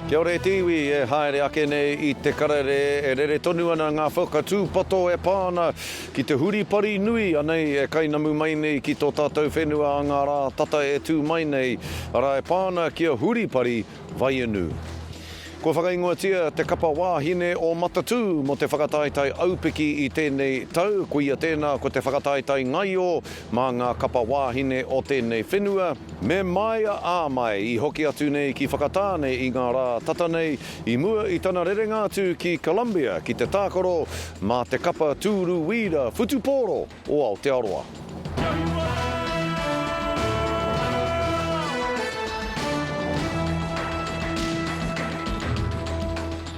Kia ora e te iwi, e haere ake nei i te karere e rere tonu ana ngā whakatūpato e pā ana ki te huripari nui anei e kainamu mai nei ki tō tātou whenua a ngā rā tata e tū mai nei, arā e pā ana ki a Huripari Vaiinu. Kua whakaingoatia te kapa wāhine o Matatū mō te whakataetae aupiki i tēnei tau, koia tēnā ko te whakataetae ngaio mā ngā kapa wāhine o tēnei whenua, Me māia ā mai i hoki atu nei ki Whakatāne i ngā rā tata nei i mua i tana rerenga atu ki Columbia ki te tākaro mā te kapa tūru wīra whutupōro o Aotearoa.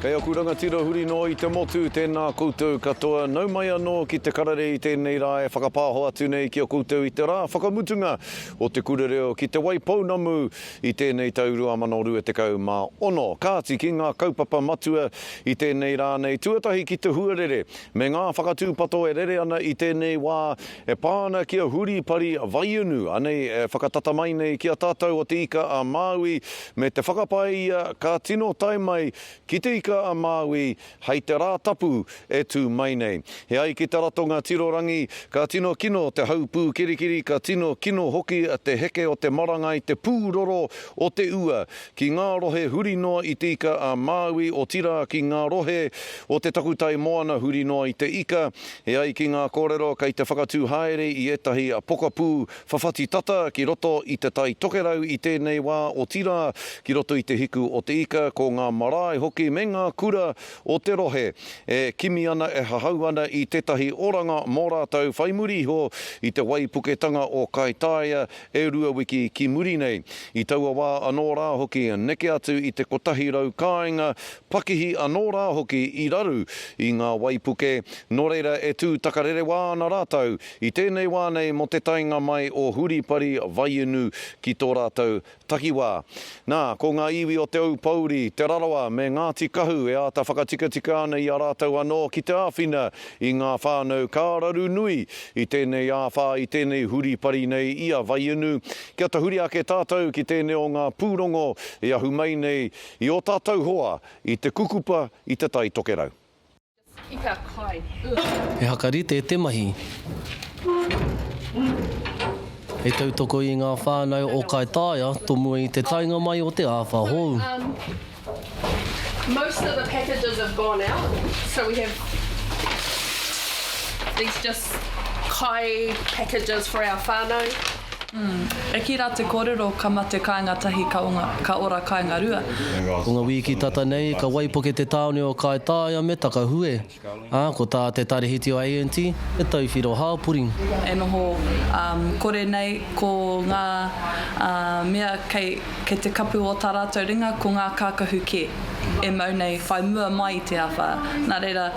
Kei aku rangatira huri noa i te motu, tēnā koutou katoa, nau mai anō ki te karere i tēnei rā e whakapāho atu nei ki a koutou i te rā whakamutunga o Te Kura Reo ki Te Waipounamu i tēnei tau 2026, kāti ki ngā kaupapa matua i tēnei rā nei tuatahi ki te huarere me ngā whakatūpato e rere ana i tēnei wā e pā ana ki a Huripari Vaiunu anei e whakatata mai nei ki a tātou o Te Ika a Māui me te whakapae ia ka tino tae mai ki Te Ika a Māui Hei te Rātapu e tū mai nei. E ai ki te ratonga tiro rangi, ka tino kino te hau pūkirikiri, ka tino kino hoki te heke o te maranga i te pūroro o te ua ki ngā rohe huri noa i te ika a Māui, otirā ki ngā rohe o te takutai moana huri noa i te ika. E ai ki ngā kōrero kei te whakatū haere i ētahi pokapū Whawhati tata ki roto i te Tai Tokerau i tēnei wā, otirā, ki roto i te hiku o te ika, ko ngā marae hoki me ngā kura o te rohe e kimi ana, e hahau ana i tētahi oranga mō rātou whai muri iho i te waipuketanga o Kaitaia e rua wiki ki muri nei. I taua wā anō rā hoki, neke atu i te kotahi rau kāinga, pakihi anō rā hoki i raru i ngā waipuke, nō reira e tū takarerewa ana rātou I tēnei wā nei mō te taenga mai o Huripari Vaiinu ki tō rātou takiwā. Nā, ko ngā iwi o Te Aupōuri, Te Rarawa me Ngāti Kahu e āta whakatikatika ana i a rātou anō ki te āwhina i ngā whānau ka raru nui i tēnei āwhā i tēnei huripari nei i a Vaiinu kia tahuri ake tātou ki tēnei o ngā pūrongo e ahu mai nei i ō tātou hoa i te kukupa i Te Tai Tokerau. He whakarite te mahi. He tautoko i ngā whānau o Kaitaia tomua i te taenga mai o te āwha hou. Eki ra te korero ka mate kainga tahi ka onga, ka ora kainga rua. Ko nga wiki tata nei ka waipuke te taone o Kaitaia me Takahue, a ko ta te Tarihiti o ANT he tauwhiro hapori. E noho kore nei ko nga mea kei te kapu o ta ratou ringa ko nga kakahu ke e mau nei whai mua mai i te awha. Na reira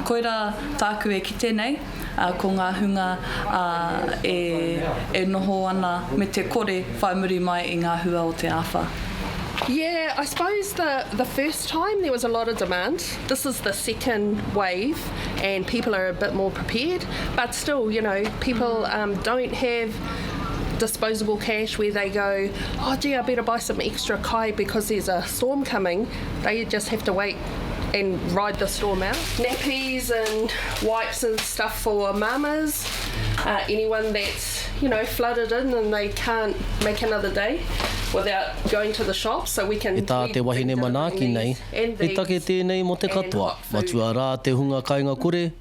koira taku e kite nei. ā, ko ngā hunga, ā, e, e noho ana me te kore whai muri mai i ngā hua o te āwha. Yeah, I suppose the the first time there was a lot of demand. This is the second wave, and people are a bit more prepared. But still, you know, people um, don't have disposable cash where they go, oh gee, I better buy some extra kai because there's a storm coming. They just have to wait and ride the storm out. Nappies and wipes and stuff for mamas, uh, anyone that's, you know, flooded in and they can't make another day without going to the shop so we can... E tā te wahine manaaki nei, he take tēnei mō te katoa, matua rā te hunga kaingakore,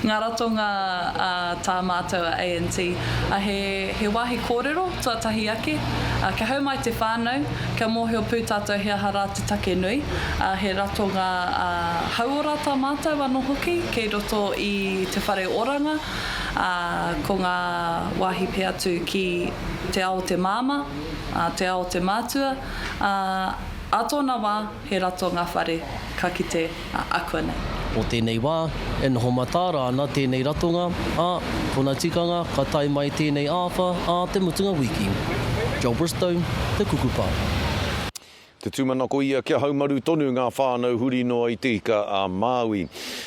Ngā ratonga a tā mātou a ANT, a he he wāhi kōrero tuatahi ake, a kia hau mai te whānau, kia mōhio pū tātou he aha rā te take nui, a he ratonga a hauora tā mātou anō hoki kei roto i te whare oranga, a ko ngā wāhi pē atu ki te ao o te māmā, a te ao o te mātua, a ā tōna wā he ratonga whare ka kite. ā, akuanei. O tēnei wā, e noho mataara ana tēnei ratonga, ā, kona tikanga ka tae mai tēnei āwha ā te mutunga wiki. Joel Bristow, Te Kukupa. Te tūmanako ia kia haumaru tonu ngā whānau huri noa i Te Ika a Māui.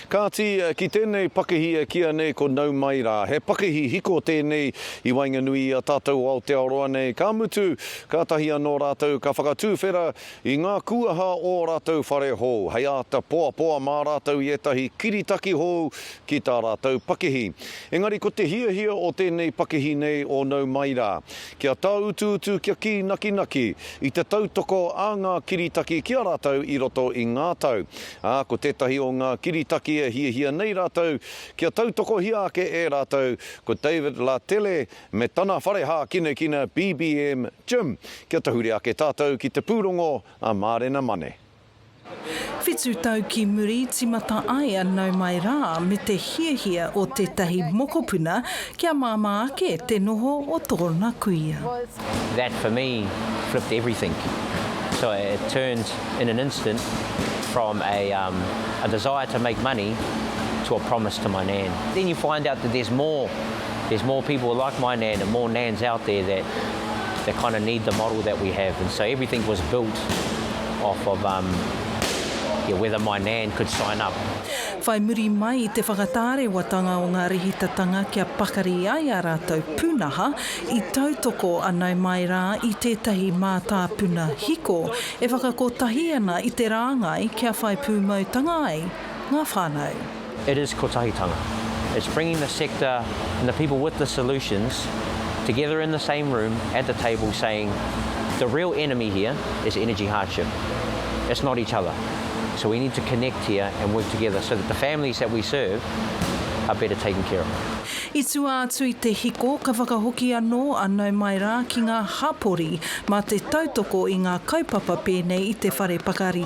Kāti, ki tēnei pakihi e kīa nei ko Nau Mai Rā, he pakihi hiko tēnei i waenganui i a tātou o Aotearoa nei, ka mutu, kātahi anō rātou ka whakatūwhera I ngā kūaha o ō rātou whare hou, hei āta poapoa mā rātou i ētahi kiritaki hou ki tā rātou pakihi. Engari ko te hiahia o tēnei pakihi nei o nau mai rā, kia tāutuutu kia kī nakinaki i te tautoko a ngā kiritaki ki a rātou i roto i ngā tau, ā, ko tētahi o ngā kiritaki e hiahia nei rātou kia tautokohia ake e rātou ko David Lattele me tana whare hākinakina BBM Gym kia tahuri ake tātou ki te pūrongo a Mārena Mane. Whitu tau ki muri timata ai a Nau Mai Rā me te hiahia o tētahi mokopuna kia māmā ake te noho o tōna kuia. That for me flipped everything so it turned in an instant from a a desire to make money to a promise to my nan. Then you find out that there's more. there's more people like my nan and more nans out there that that kind of need the model that we have and so everything was built off of um yeah whether my nan could sign up. Whai muri mai i te whakatārewatanga o ngā rīhitatanga kia pakari ai ā rātou pūnaha, i tautoko a Nau Mai Rā i tētahi mātāpuna hiko e whakakotahi ana i te rāngai kia whai pūmautanga ai ngā whānau. It is Kotahitanga. It's bringing the sector and the people with the solutions together in the same room at the table saying the real enemy here is energy hardship. It's not each other. So we need to connect here and work together so that the families that we serve are better taken care of. I tua atu i te hiko, ka whakahoki anō a Nau Mai Rā ki ngā hapori mā te tautoko i ngā kaupapa pēnei i te whare pakari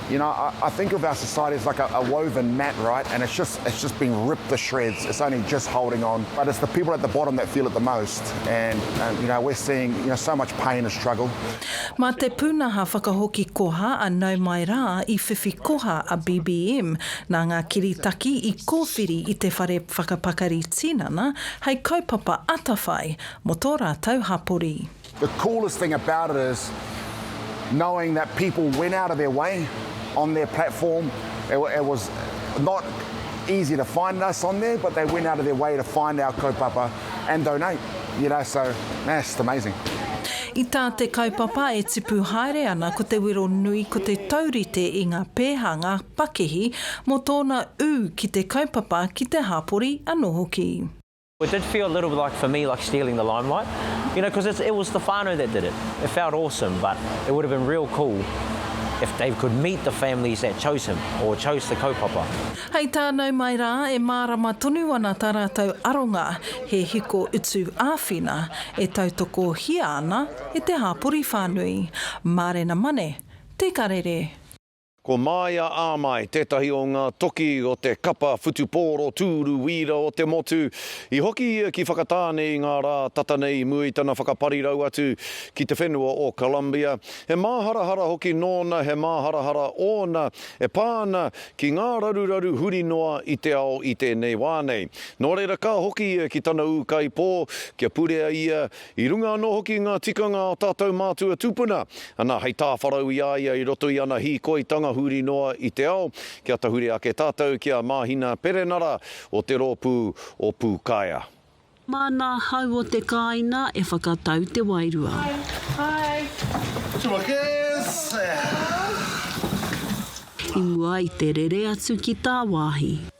You know, I, I think of our society as like a, a woven mat, right? And it's just it's just being ripped to shreds. It's only just holding on, but it's the people at the bottom that feel it the most. And, and you know, we're seeing you know so much pain and struggle. Mā te pūnaha whakahoki koha a Nau Mai Rā i whiwhi koha a BBM nā ngā kiritaki i kōwhiri i te whare whakapakari tinana hei kaupapa atawhai mō tō rātou hapori. The coolest thing about it is knowing that people went out of their way on their platform, it was not easy to find us on there but they went out of their way to find our kaupapa and donate, you know, so nah, it's just amazing. I tā te kaupapa e tipu haere ana ko te wero nui ko te taurite i ngā pēhanga pakihi mō tōna ū ki te kaupapa ki te hāpori anō hoki. It did feel a little like for me like stealing the limelight you know cos it it was the whanau that did it it felt awesome but it would have been real cool if Dave could meet the families that chose him or chose the kaupapa. Hei tā nau mai rā e mārama tonu ana tā rātou aronga he hiko utu āwhina e tautokohia ana e te hāpori whānui. Mārena Mane, Te Karere. Ko Māia Āmai tētahi o ngā toki o te kapa whutupōro tūru wīra o te motu. I hoki ia ki Whakatāne i ngā rā tata nei i mua i tana whakaparirau atu ki te whenua o Colombia. He māharahara hoki nōna, he māharahara ōna e pā ana ki ngā raruraru huri noa i te ao i tēnei wā nei. Nō reira ka hoki ia ki tana ūkaipō kia purea ia I runga anō hoki i ngā tikanga o tātou mātua tūpuna, ana hei tāwharau i a ia i roto i ana hīkoitanga huri noa i te ao, kia tahuri ake tātou ki a Māhina Perenara o te rōpū o Pūkaea. Māna hau o te kāina e whakatau te wairua. I mua i te rere atu ki tāwāhi.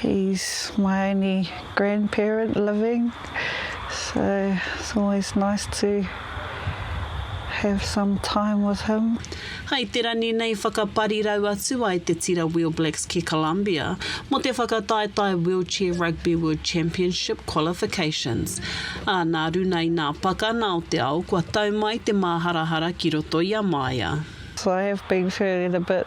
He's my only grandparent living so it's always nice to have some time with him. Hai te rangi nei whakaparirau atu ai te tira Wheel Blacks ki Colombia mo te whakataetae Wheelchair Rugby World Championship Qualifications. A na runa i na pakana o te ao kua tau mai te maharahara ki roto i a Maia. I have been feeling a bit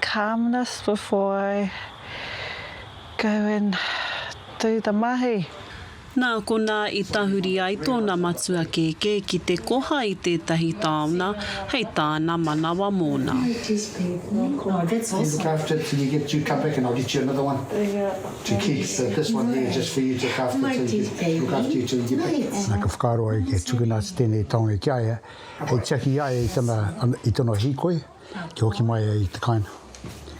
calmness before I go and do the mahi. Nā konā i tahuri ai tōna matua kēkē ki te koha i tētahi taona hei tāna manawa mōna. Nā, ka whakaaro ai kia tukuna atu tēnei taone ki a ia, hei tiaki i a ia i tana, i tana hīkoi. kia hoki mai ai te kāinga,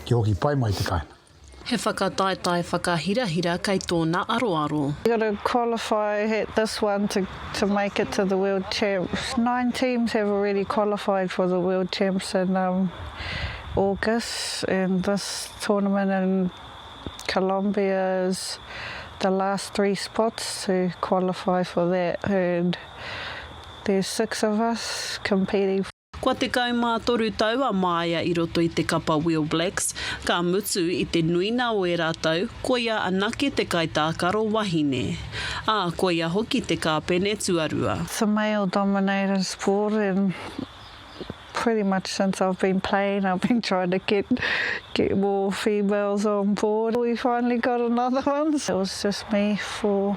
kia hoki pai mai te kāinga. He whakataetae whakahirahira kei tōna aroaro. You've got to qualify at this one to to make it to the World Champs. Nine teams have already qualified for the World Champs in um August and this tournament in Colombia is the last three spots to qualify for that and there's six of us competing. Kua tekau mā toru tau a Māia i roto i te kapa Wheel Blacks, ka mutu, i te nuinga o ērā tau, koia anake te kaitākaro wahine. Ā, koia hoki te kāpene tuarua. The male dominated sport and pretty much since I've been playing I've been trying to get get more females on board. We finally got another one, it was just me for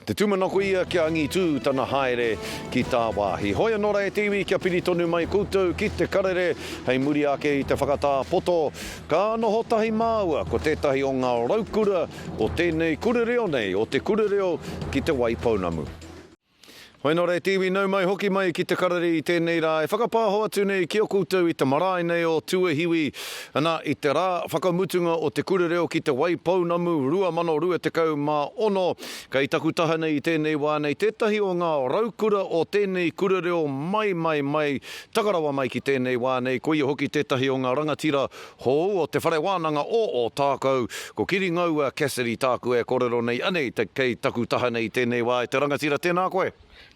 Ko te tūmanako ia kia angitū tana haere ki tāwāhi. Hoi anō rā e te iwi kia piri tonu mai koutou ki te karere hei muri ake i te whakatā poto. Ka noho tahi māua ko tētahi o ngā raukura o tēnei kura reo nei, o Te Kura Reo ki Te Waipounamu. Hoi nō reiti iwi nau mai hoki mai ki te karere i tēnei rā e whakapāho atu nei ki a koutou i te marae nei o Tuahiwi, ana, i te rā whakamutunga o te Kura Reo ki Te Waipounamu 2026, kei taku taha nei i tēnei wā nei tētahi o ngā raukura o tēnei Kura Reo mai, mai, mai, taka rawa mai ki tēnei wā nei, koia hoki tētahi o ngā rangatira Hou o te Whare Wānanga o Ōtākou, ko Kiringaua Cassidy tāku e korero nei anei te kei taku taha nei tēnei wā e te rangatira tēnā koe.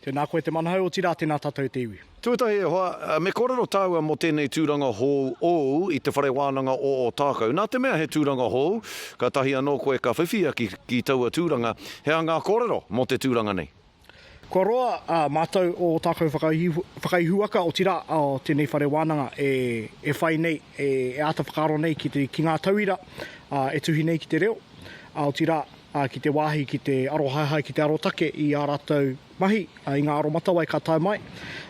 Tēnā koe te manahau otirā tēnā tatou te iwi. Tuatahi e hoa, me korero tāua mo tēnei tūranga hou ōu i te Whare Wānanga o Ōtākou. Nā te mea he tūranga hou, katahi anō koe ka whiwhia ki ki taua tūranga, he aha ngā korero mo te tūranga nei? Kua roa ā mātou ō tākou whakaihuwhakaihuwaka, otirā, ā tēnei whare wānanga e e whai nei, e e āta whakaaro nei ki te ki ngā tauira ā e tuhi nei ki te reo, ā otirā, ā ki te wāhi ki te arohaehae ki te arotake i ā rātou mahi, ā i ngā aromatawai ka tae mai,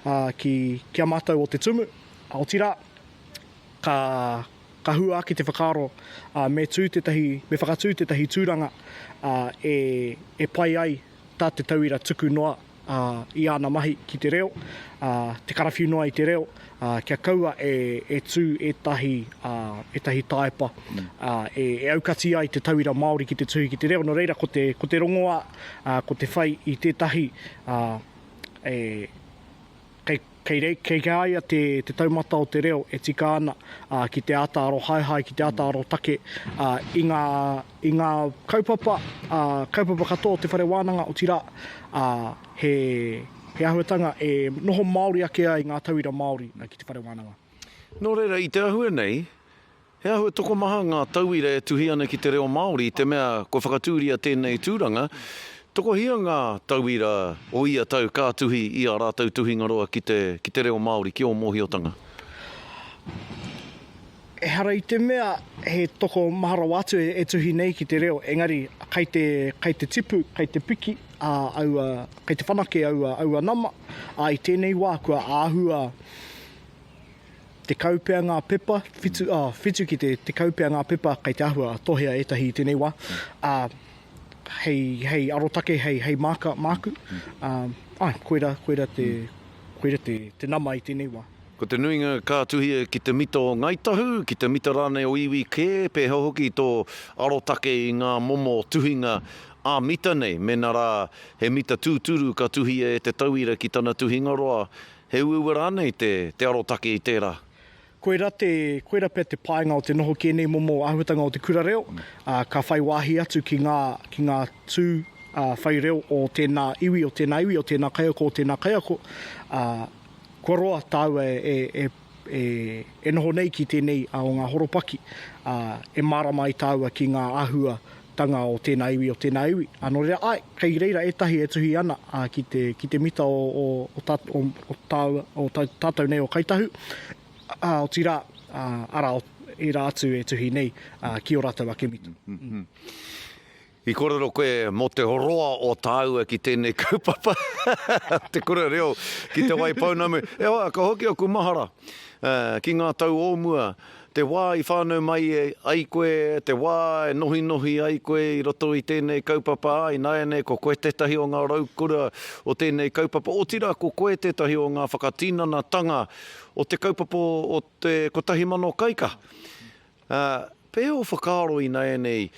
ā ki ki a mātou ō Te Tumu, ā otirā, ka ka hua ake te whakaaro, ā me tū tētahi me whakatū tētahi tūranga, ā e e pai ai. tā te tauira tuku noa i āna mahi ki te reo, te karawhiu noa i te reo, kia kaua e tū ētahi tāepa e aukati ai te tauira Māori ki te tuhi ki te reo. Nō reira, ko te rongoā, ko te whai i tētahi e. Kei reira, kei a ia te taumata o te reo e tika ana ki te āta arohaehae, ki te āta arotake i ngā, i ngā kaupapa, kaupapa katoa o te whare wānanga, otirā, he, he āhuatanga e noho māori ake ai ngā tauira Māori ki te whare wānanga. Nō reira, i te āhua nei, He āhua tokomaha ngā tauira e tuhi ana ki te reo Māori i te mea kua whakatūria tēnei tūranga. Tokohia ngā tauira o ia tau ka tuhi i ā rātou tuhingaroa ki te ki te reo Māori, ki ō mōhiotanga. Ehara i te mea he toko maha rawa atu e tuhi nei ki te reo, engari kai te kai te tipu, kai te piki a aua kai te whanake aua aua nama, ā, i tēnei wā kua āhua Tekau pea ngā pepa, whitu, ā, whitu ki te tekau pea ngā pepa kei te āhua tohea ētahi i tēnei wā, ā, hei, hei arotake, hei, hei māka māku, ā, āe, koirā, koirā te, koirā te, te nama i tēnei wā. Ko te nuinga ka tuhia ki te mita o Ngāi Tahu, ki te mita rānei o iwi kē, pēhea hoki tō arotake i ngā momo tuhinga ā-mita nei, mēnā rā he mita tūturu ka tuhia e te tauira ki tana tuhingaroa, He uaua rānei te, te arotake i tērā? Koira te, koira pea te painga o te noho ki ēnei momo āhuatanga o te kura reo, ā, ka whai wāhi atu ki ngā, ki ngā tū, ā, whai reo o tēnā iwi, o tēnā iwi, o tēnā kaiako, o tēnā kaiako, ā, kua roa tāua e, e, e, e noho nei ki tēnei, ā, o ngā horopaki, ā, e mārama ai tāua ki ngā āhua Tanga o tēnā iwi, o tēnā iwi. Nō reira, āe, kei reira ētahi e tuhi ana ki te, ki te mita o, o, o tā, o, o tāua, o tā, tātou nei o Kai Tahu, ā, otirā, ā, arā, o ērā atu e tuhi nei ki ō rātou ake mita. I kōrero koe mō te roa o tāua ki tēnei kaupapa, Te Kura Reo ki Te Waipounamu. E hoa, ka hoki aku mahara ki ngā tau o mua, Te wā i whānau mai ai koe, te wā e nohinohi ai koe i roto i tēnei kaupapa, ā, ināianei ko koe tētahi o ngā raukura o tēnei kaupapa, otirā ko koe tētahi o ngā whakatinanatanga o te kaupapa o te kotahi mano kaikaha. Pēhea o whakaaro ināianei?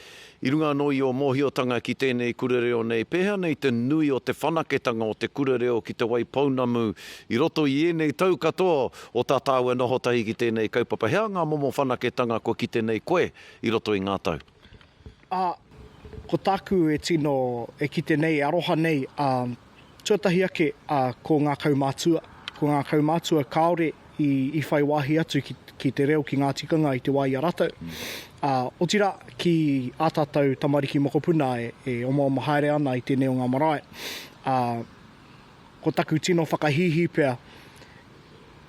I runga anō i ō mōhiotanga ki tēnei kura reo nei, pēhea nei te nui o te whanaketanga o te kura reo ki Te Wai Pounamu i roto i ēnei tau katoa o tā tāu e noho tahi ki tēnei kaupapa? Hea ngā momo whanaketanga kua kite nei koe i roto i ngā tau? Ā, ko tāku e tino, e kite nei, e aroha nei, ā, tuatahi ake a, ko ngā kaumātua. Ko ngā kaumātua kāore i, i whai wāhi atu ki, ki te reo, ki ngā tikanga i te wā i a rātou. Ā, otirā, ki ā tātou tamariki mokopuna e, e omaoma haere ana i tēnei o ngā marae, ā, ko taku tino whakahīhī pea,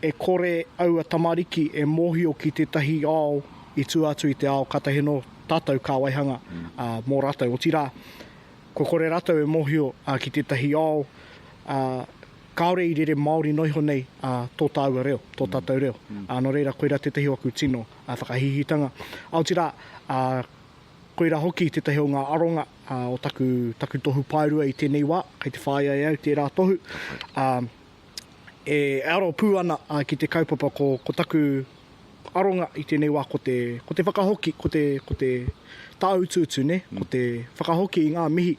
e kore aua tamariki e mōhio ki tētahi ao i tua atu i te ao ka tahi anō tātou kā waihanga, ā, mō rātou. Otirā, Kua kore rātou e mōhio ki tētahi ao kāore i rere Māori noa iho nei tō tāua reo, tō tātou reo. Nō reira, koirā tētahi o aku tino whakahihitanga. Aotira, koirā hoki tētahi o ngā aronga o taku tohu paerua i tēnei wā, kei te whāia e au tērā tohu. e aro pū ana ki te kaupapa ko taku aronga i tēnei wā ko te, ko te whakahoki, ko te, ko te tāutuutu, nē, ko te whakahoki i ngā mihi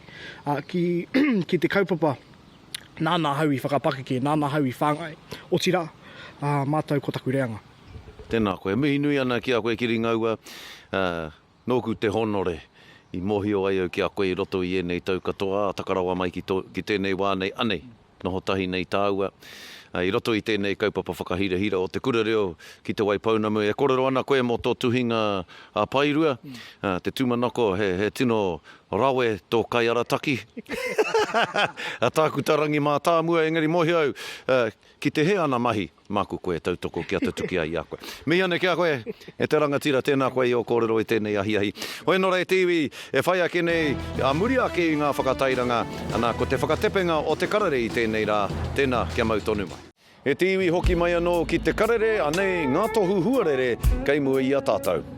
ki, ki te kaupapa nāna ahau i whakapakeke, nāna ahau i whāngai, otirā, mātou ko taku reanga. Tēnā koe. E mihi nui ana ki a koe Kiringaua. Nōku te hōnore i mōhio ai au ki a koe i roto i ēnei tau katoa, ā, taka rawa mai ki tō, ki tēnei wā nei, anei, noho tahi nei tāua, i roto i tēnei kaupapa whakahirahira o te Kura Reo ki Te Waipounamu. E kōrero ana koe mō tō tuhinga a Paerua, te tūmanako, he, he tino rawe tō kaiarataki. Tāku tā Rangi Mātāmua, engari mōhio au, ki te hē ana mahi. Māku koe e tautoko kia tutuki ai i a koe. Mihi anō ki a koe, e te rangatira, tēnā koe i ō kōrero i tēnei ahiahi. Hoi nō ra e te iwi, e whai ake nei, ā muri ake i ngā whakatairanga, anā, ko te whakatepenga o te karere i tēnei rā, tēnā, kia mau tonu mai. E te iwi, hoki mai anō ki te karere, anei ngā tohu huarere kei mua i a tātou.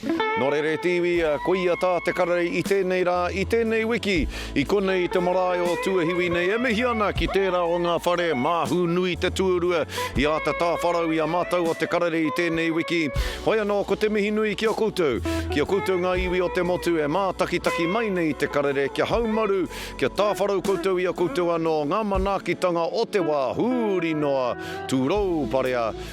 Nō reira e te iwi, koia tā te karere i tēnei rā, i tēnei wiki, i konei i te marae o Tuahiwi nei e mihi ana ki tērā o ngā whare mā Hūnui Te Tuarua i āta tāwharau i a mātou o te karere i tēnei wiki. Hoi anō, ko te mihi nui ki a koutou, ki a koutou ngā iwi o te motu e mātakitaki mai nei i te karere kia haumaru, kia tāwharau koutou i a koutou anō ngā manaakitanga o te wā huri noa, tūrou parea,